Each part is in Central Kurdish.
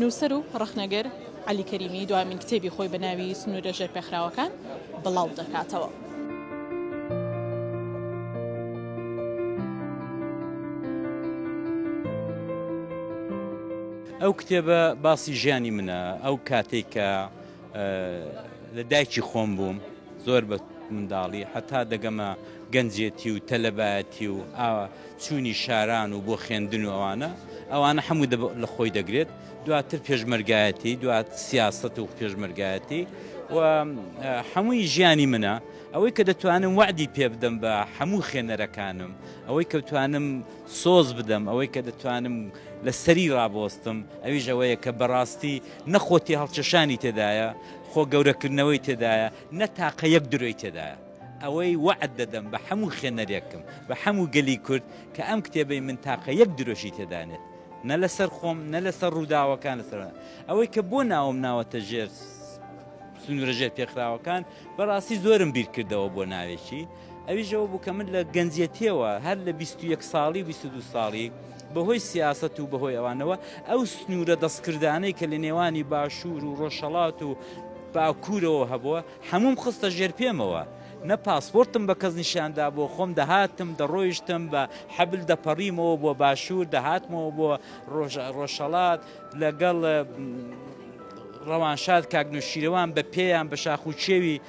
نووسەر و ڕەخنەگر عەلی کەریمی دوایمین کتێبی خۆی بە ناوی سنوورە ژێرپێخراوەکان بڵاودەکاتەوە. ئەو کتێبە باسی ژیانی منە ئەو کاتێک کە لە دایکی خۆم بووم زۆر بە منداڵی هەتا دەگەمە گەنجێتی و تەلەبایەتی و ئاوا چوونی شاران و بۆ خوێندن و ئەوانە ئەوانە هەموو لە خۆی دەگرێت دواتر پێشمەرگایەتی دوات سیاست و پێشمەرگایەتی و هەمووی ژیانی منە ئەوەی کە دەتوانم وعدی پێ بدەم بە هەموو خوێنەرەکانم ئەوەی کە بتوانم سۆز بدەم ئەوەی کە دەتوانم لە سەری ڕابۆستم ئەویش ئەوەیە کە بەڕاستی نە خۆ تێهەڵکێشانی تێدایە، خۆ گەورەکردنەوەی تێدایە، نە تاقە یەک درۆی تێدایە. ئەوەی وەعد دەدەم بە هەموو خوێنەرێکم، بە هەموو گەلی کورد کە ئەم کتێبەی من تاقە یەک درۆشی تێدا نێت. نە لەسەر خۆم، نە لەسەر ڕووداوەکان لەسەر. ئەوەی کە بۆ ناوم ناوەتە ژێر سنوورە ژێرپێخراوەکان، بەڕاستی زۆرم بیرکردەوە بۆ ناوێکی. ئەویش ئەوە بوو کە من لە گەنجێتیەوە هەر لە 21 ساڵی و 22 ساڵی بەهۆی سیاست و بەهۆی ئەوانەوە ئەو سنوورە دەستکردانەی کە لە نێوانی باشوور و ڕۆژهڵات و باکوورەوە هەبووە هەموم خستە ژێر پێمەوە نە پاسپۆرتم بە کەس نیشاندا بۆ خۆم دەهاتم دەڕۆیشتم بە حەبل دەپەڕیمەوە بۆ باشوور دەهاتمەوە بۆ ڕۆژەڵات لەگەڵ ڕەوانشاد کاکنوشیرەوان بە پێیان بە شاخ و چێوی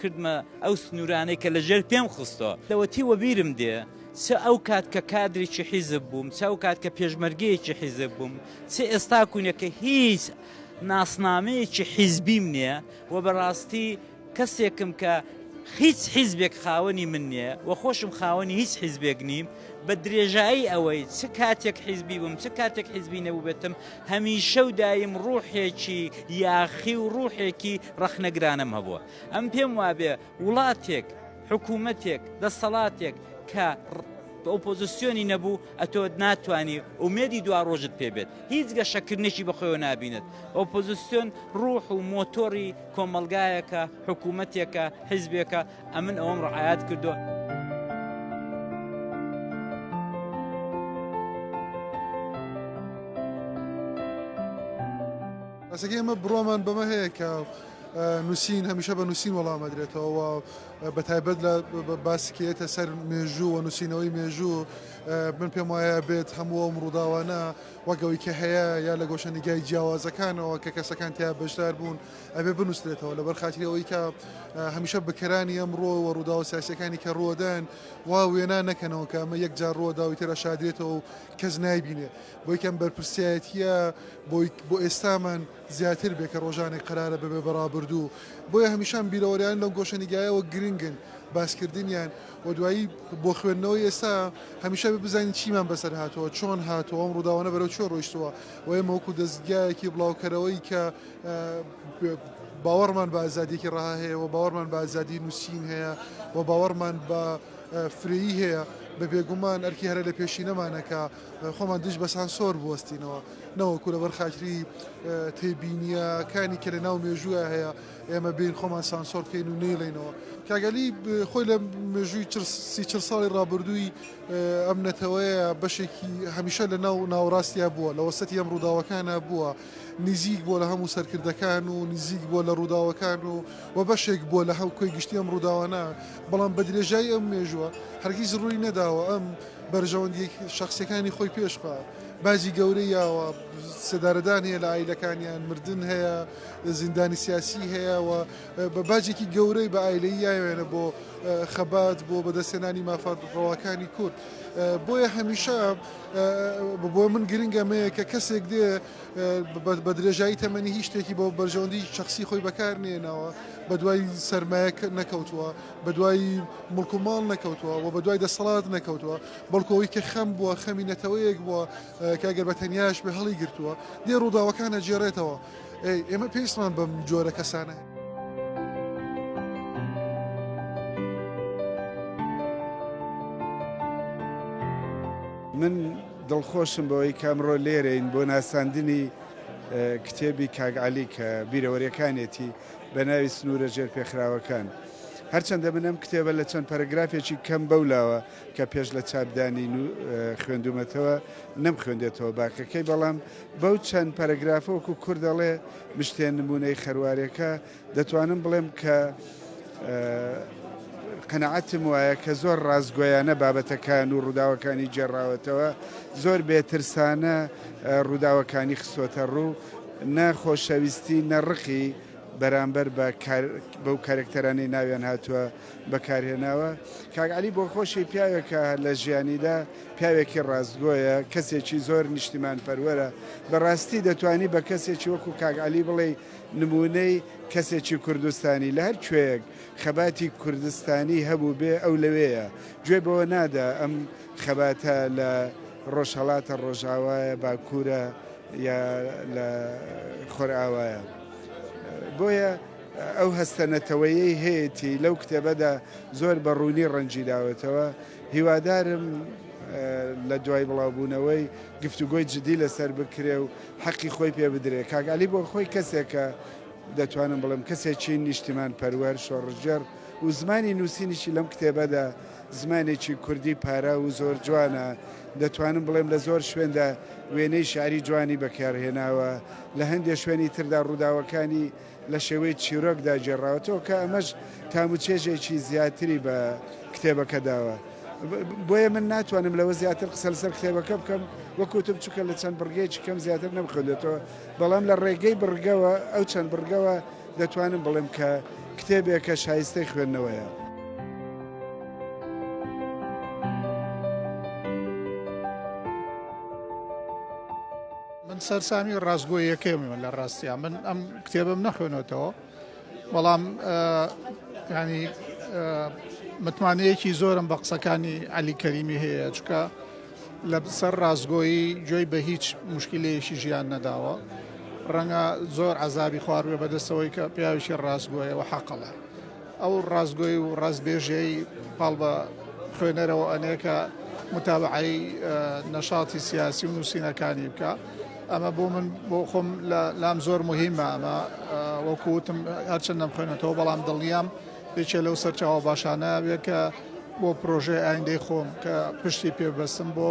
کردمە ئەو سنوورانەی کە لەژێر پێم خستەوە. لەوەتی وەبیرم دێ چ ئەو کات کە کادرێکی حیزب بووم، چ ئەو کات کە پێشمەرگەیەکی حیزب بووم، چ ئێستاکوونە کە هیچ ناسنامەیەکی حیزبیم نییە و بەڕاستی کەسێکم کە هیچ حیزبێک خاوەنی من نییە و خۆشم خاوەنی هیچ حیزبێک نیم، بە درێژایی ئەوەی چ کاتێک حیزبی بووم، چ کاتێک حیزبی نەبووبێتم، هەمیشە و دایم ڕووحێکی یاخی و ڕووحێکی ڕەخنە گرانەم هەبووە. ئەم پێم وابێ وڵاتێک، حکوومەتێک، دەسەڵاتێک کە ئۆپۆزسیۆنی نەبوو ئەتۆ ناتوانی ئومێدی دوا ڕۆژت پێ بێت هیچ گەشەکردنێکی بەخۆیەوە نبینێت ئۆپۆزسیۆن ڕوح و مۆتۆری کۆمەلگایەکە حکوومەتێکە حزبێکە ئەمن ئەوم ڕعاات کردو. بەس ئەگەر ئێمە بڕوامان بەمە هەیە کە نووسین هەمیشە بە نووسین وەڵام ئەدرێتەوە و بە تایبەت لە باسی کە یەتە سەر مێژوو و نووسینەوەی مێژوو من پێم وایە بێت هەموو ئەم ڕووداوانە وەگەوەی کە هەیە یا لە گۆشەنیگای جیاوازەکانەوە کە کەسەکان تیا بەشدار بوون ئەبێ بنووسرێتەوە لەبەر خاتری ئەوەی کە هەمیشە بکەرانی ئەم ڕۆ و ڕوودا و سیاسەکانی کە ڕوەدەن وا وێنا نەکەنەوە کە ئەمە یەک جار ڕوەداوی تێرا شادرێتەوە و کەس نایبینێ بۆ یەکەم بەرپرسیایەتییە بۆی بۆ ئێستامان زیاتر بێ کە ڕۆژانێک قەرارە ببێ بە ڕابردوو بۆیە هەمیشان بیرەوەریان لەو گۆشەنیگایەوە گرنگن باسکردنیان و دوایی بۆ خوێندنەوەی ئێستا هەمیشە بێ بزانین چیمان بەسەر هاتووە چۆن هاتووە ئەم ڕووداوانە بەرەو چۆ ڕۆیشتووە و ئێمە وەکو دەستگایەکی بڵاوکەرەوەی کە باوەڕمان بە ئازادیەکی ڕەها هەیە و باوەڕمان بە ئازادی نووسین هەیە و باوەڕمان بە فرەیی هەیە بە بێگومان ئەرکی هەرە لە پێشینەمانەکە خۆمان دژ بە سانسۆر بوەستینەوە نەوەکو لەبەر خاتری تێبینیەکانی کە لە ناو مێژووە هەیە ئێمە بین خۆمان سانسۆر بکەین و نەیڵێنەوە کاگەلی خۆی لە مێژووی سی چل ساڵی ڕابردووی ئەم نەتەوەیە بەشێکی هەمیشە لە ناو ناوڕاستیا بووە لە وەسەتی ئەم ڕووداوەکانە بووە نزیک بۆ لە هەموو سەرکردەکان و نزیک بۆ لە ڕووداوەکان و و بەشێک بۆ لە هەم کۆی گشتی ئەم ڕووداوانە بەڵام بە درێژایی ئەم مێژووە هەرگیز ڕووی نەداوە ئەم بەرژەوەندیە شەخسیەکانی خۆی پێش بە باجی گەورە یاوە سێدارەدان هەیە لە ئایلەکانیان مردن هەیە زیندانی سیاسی هەیە و بە باجێکی گەورەی بە ئایلەی یاوێنە بۆ خەبات بۆ بەدەستێنانی مافات ڕەواکانی کورد بۆیە هەمیشە بۆ من گرنگە مەیە کە کەسێک دێ بە درێژایی تەمەنی هیچ شتێکی بۆ بەرژەوەندی شخصی خۆی بەکار نێنەوە بە دوای سرمایە نەکەوتووە بەدوای مڵک و ماڵ نەکەوتوە و بەدوای دەسەڵات نەکەوتوە، بەڵکو ئەوەی کە خەم بوە خەمی نەتەوەیەک بوە کە ئەگەر بە تەنیاش بێ هەڵی گرتوە، دێ ڕوداوەکان ئەگێڕێتەوە. ئێمە پێویستمان بەم جۆرە کەسانەیە. من دڵخۆشم بەوەی کە ئەمڕۆ لێرەین بۆ ناساندنی کتێبی کاک عەلی کە بیرەوەریەکانێتی. بە ناوی سنوورە ژێرپێخراوەکان. هەرچەندە من ئەم کتێبە لە چەند پەرەگرافێکی کەم بەو لاوە کە پێش لە چاپدانی خوێندومەتەوە نەم خوێندێتەوە باقەکەی بەڵام بەو چەند پەرەگرافۆک و کورد دەڵێ مشتێن نمونەی خەروارێکە دەتوانم بڵێم کە قەنەعەتم وایە کە زۆر ڕاستگویانە بابەتەکان و ڕووداوەکانی جێڕاوەتەوە زۆر بێترسانە ڕووداوەکانی خسۆتە ڕوو نە خۆشەویستی نە ڕقی بەرامبەر بە بەو کارەکتەرانەی ناویان هاتووە بەکارهێناوە کاک عەلی بۆخۆشی پیاوێکە لە ژیانیدا پیاوێکی ڕاستگۆیە کەسێکی زۆر نیشتیمان پەروەرە بەڕاستی دەتوانی بە کەسێکی وەکو کاک عەلی بڵێ نمونەی کەسێکی کوردستانی لە هەر کوێیەک خەباتی کوردستانی هەبوو بێ ئەو لەوەیە گوێ بەوە نادا ئەم خەباتە لە ڕۆژهەڵاتە، ڕۆژاوایە، باکوورە یا لە خۆرئاوایە. بۆیە ئەو هەستە نەتەوەیەی هەیەتی لەو کتێبەدا زۆر بە ڕوونی ڕەنگی داوەتەوە هیوادارم لە دوای بڵاوبوونەوەی گفتوگۆی جدی لەسەر بکرێ و حەقی خۆی پێ بدرێ کاک علی بۆ خۆی کەسێکە دەتوانم بڵێم کەسێکی نیشتیمان پەروەر شۆڕشگێڕ و زمانی نووسینیشی لەم کتێبەدا زمانێکی کوردی پاراو و زۆر جوانە، دەتوانم بڵێم لە زۆر شوێندا وێنەی شیعری جوانی بەکارهێناوە، لە هەندێ شوێنی تردا ڕووداوەکانی لە شێوەی چیرۆکدا گێڕاوەتەوە کە ئەمەش تام و چێژێکی زیاتری بە کتێبەکە داوە. بۆیە من ناتوانم لەوە زیاتر قسە لەسەر کتێبەکە بکەم وەکو وتم چونکە لە چەند بڕگەیەکی کەم زیاتر نەمخوێندێتەوە، بەڵام لە ڕێگەی بڕگەوە ئەو چەند بڕگەوە دەتوانم بڵێم کە کتێبێکە شایستەی خوێندنەوەیە. من سەرسامی ڕاستگۆیەکەیمە لە ڕاستیان من ئەم کتێبم نەخوێنێتەوە بەڵام ینی متمانەیەکی زۆرم بە قسەکانی علی کەریمی هەیە چکە لە سەر ڕاستگۆیی گوێی بە هیچ موشکیلەیەکی ژیان نەداوە، ڕەنگە زۆر عەزابی خواردبێ بە دەست ئەوەی کە پیاوێکی ڕاستگۆیە و حەقەڵە. ئەو ڕاستگۆی و ڕاستبێژیەی پاڵ بە خوێنەرەوە ئەنێ کە موتابەعەی نەشاتی سیاسی و نووسینەکانی بکا. ئەمە بۆ من بۆ خۆم لام زۆر موهیمە ئەمە وەکوو وتم هەرچەندە نەمخوێنێتەوە بەڵام دڵنیام یەکێ لەو سەرچاوە باشانە بێ کە بۆ پرۆژەی ئایندەی خۆم کە پشتی پێ بەستم بۆ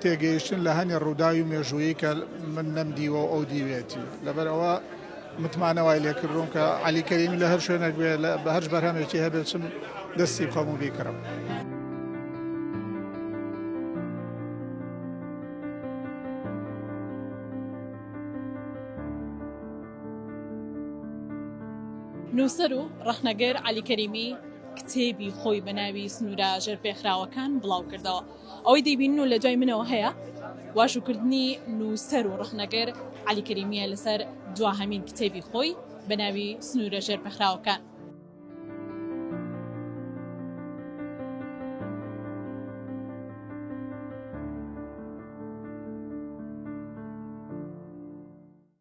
تێگەیشتن لە هەنێ ڕووداوی مێژوویی کە من نەمدیوە و ئەو دیوێتی لەبەر ئەوە متمانە وای لێکردوم کە علی کەریمی لە هەر شوێنێک بێ لە بە هەرج بەرهەمێکی هەبێت چم دەستی بخەم و بیکڕم. نووسەر و ڕەخنەگر عەلی کەریمی کتێبی خۆی بە ناوی سنوورە ژێرپێخراوەکان بڵاو کردەوە. ئەوەی دەیبینن و لەدوای منەوە هەیە، واژووکردنی نووسەر و ڕەخنەگر عەلی کەریمییە لەسەر دواهەمین کتێبی خۆی بە ناوی سنوورە ژێرپێخراوەکان.